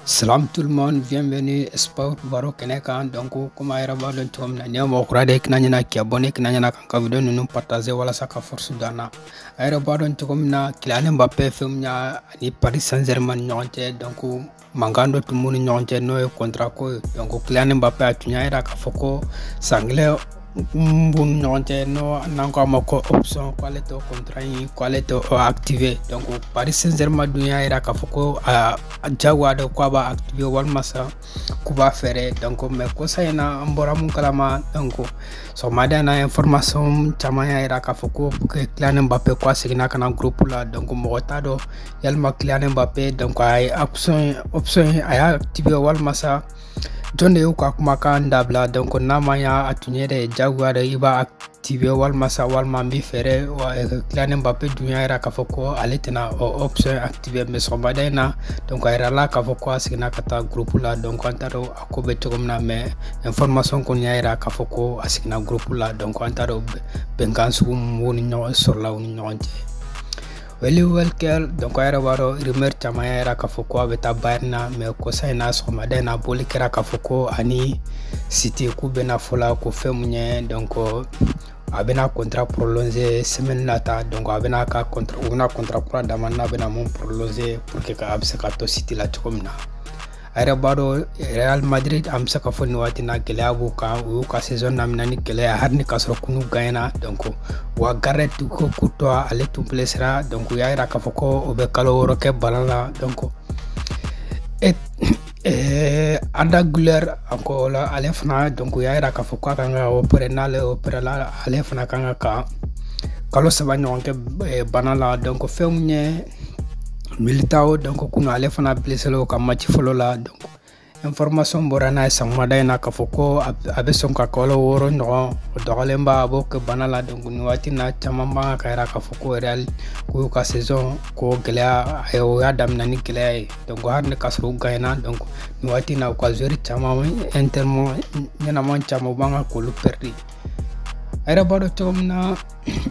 Salam tout le monde, bienvenue Sport Baro kɛnɛ kan donc comme a yɛrɛ b'a dɔn cogo min na n'i ye mɔgɔ kura de ye kana ɲina k'i abonné kana ɲina k'an ka video ninnu partager walasa ka force don an na a yɛrɛ b'a dɔn cogo min na Kylian Mbappé fɛn min y'a ani Paris Saint-Germain ni ɲɔgɔn cɛ donc mankan dɔ tun b'u ni ɲɔgɔn cɛ n'o ye contrat ko ye donc Kylian Mbappé a tun y'a yira k'a fɔ ko san kelen min b'u ni ɲɔgɔn cɛ n'o n'an ko a ma ko option ko ale t'o contrat in ko ale t'o activer donc Paris Saint-Germain dun y'a yira k'a fɔ ko a jagoya don ko a b'a activer walima sa k'u b'a feere donc mais kosa in na an bɔra min kalama donc sɔgɔmada in na information caman y'a yira k'a fɔ ko Kylian Mbappé ko a seginna ka na groupe la donc mɔgɔ t'a dɔn yalima Kylian Mbappé donc a ye option in a y'a activer walima sa jɔn de y'u ka kumakan dabila donc n'a ma y'a a tun ye de jagoya de i b'a activer walima sa walima n b'i feere Kylian Mbappé dun y'a yira k'a fɔ ko ale tɛna o option activer mais sɔgɔmada in na donc a yirala k'a fɔ ko a seginna ka taa groupe la donc an t'a dɔn a ko bɛ cogo min na mais information kɔni y'a yira k'a fɔ ko a seginna groupe la donc an t'a dɔn bɛnkan sugu min ɲɔgɔn sɔrɔla u ni ɲɔgɔn cɛ Kyle Walker donc a yɛrɛ b'a dɔn rumeur caman y'a yira k'a fɔ ko a bɛ taa Bayern na mais kosa in na sɔgɔmada in na bɔli kɛra k'a fɔ ko a ni City k'u bɛnna fo la ko fɛn min ye donc a bɛna contrat prolonger semaine nata donc a bɛna ka contrat u bɛna contrat kura d'a ma n'a bɛna min prolonger pour que a bɛ se ka to City la cogo min na. a yɛrɛ b'a dɔn Real Madrid an bɛ se k'a fɔ nin waati na gɛlɛya b'u kan u y'u ka saison daminɛ ni gɛlɛya hali ni k'a sɔrɔ kunu u gagnéna donc u ka gardien ko Courtois ale tun blesséra donc u y'a yira k'a fɔ ko o bɛ kalo wɔɔrɔ kɛ bana la donc Eh, Arda Güler anko la ale fana donc u y'a yira k'a fɔ k'a kan ka opérer n'ale opéréla ale fana kan ka kalo saba ɲɔgɔn kɛ eh, bana la donc fɛn min ye Militão donc kunu ale fana blesséla u ka match fɔlɔ la donc information bɔra n'a ye sɔgɔmada in na k'a fɔ ko a bɛ sɔn ka kalo wɔɔrɔ ɲɔgɔn o dɔgɔyalenba a b'o kɛ bana la donc nin waati na caman b'a kan k'a yira k'a fɔ ko Real ko u y'u ka saison ko gɛlɛya a ye u y'a daminɛ ni gɛlɛya ye donc hali ni k'a sɔrɔ u gagna donc nin waati na u ka joueur caman élément ɲɛnama caman u b'a kan k'olu perdre a yɛrɛ b'a dɔn cogo min na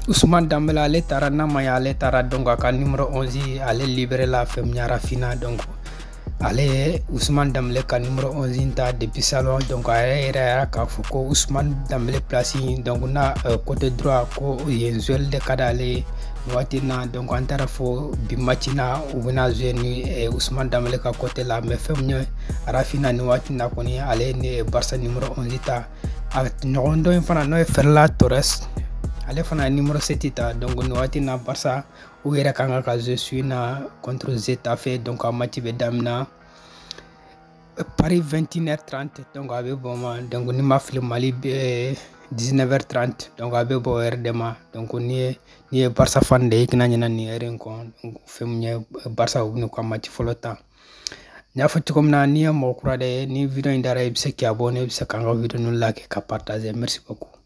Ousmane Dembélé ale taara n'a ma ye ale taara donc a ka numéro 11 ale libéréla fɛn min ye Raphinha donc ale ye Ousmane Dembélé ka numéro 11 ta depuis salon donc a y'a yira k'a fɔ ko Ousmane Dembélé place in donc na euh, côté droit ko yen jouer de ka d'ale ye nin waati na donc an taara fo bi match na u bɛna jouer ni eh, Ousmane Dembélé ka côté la mais fɛn min ye Raphinha nin waati na kɔni ale ye Barça numéro 11 ta a ɲɔgɔn dɔ in fana n'o ye ferran torres ale fana ye nimoro seti ta donc nin wagati na barisa u yɛrɛ kan ka ka jouer su in na contre getafe donc a mati bɛ damina paris 21 h 30 donc a bɛ bɔ ma donc ni n ma fili mali bɛ 19 h 30 donc a bɛ bɔ o heure de ma donc n'i ye n'i ye barisa fan de ye i kana ɲinɛ nin heure in kɔ fɛn min ye barisa u bɛ n'u ka mati fɔlɔ ta n y'a fɔ cogo min na n'i ye mɔgɔ kura de ye ni video in diyara i bɛ se k'i abonner bɛ se k'an ka video ninnu liker ka partager merci beaucoup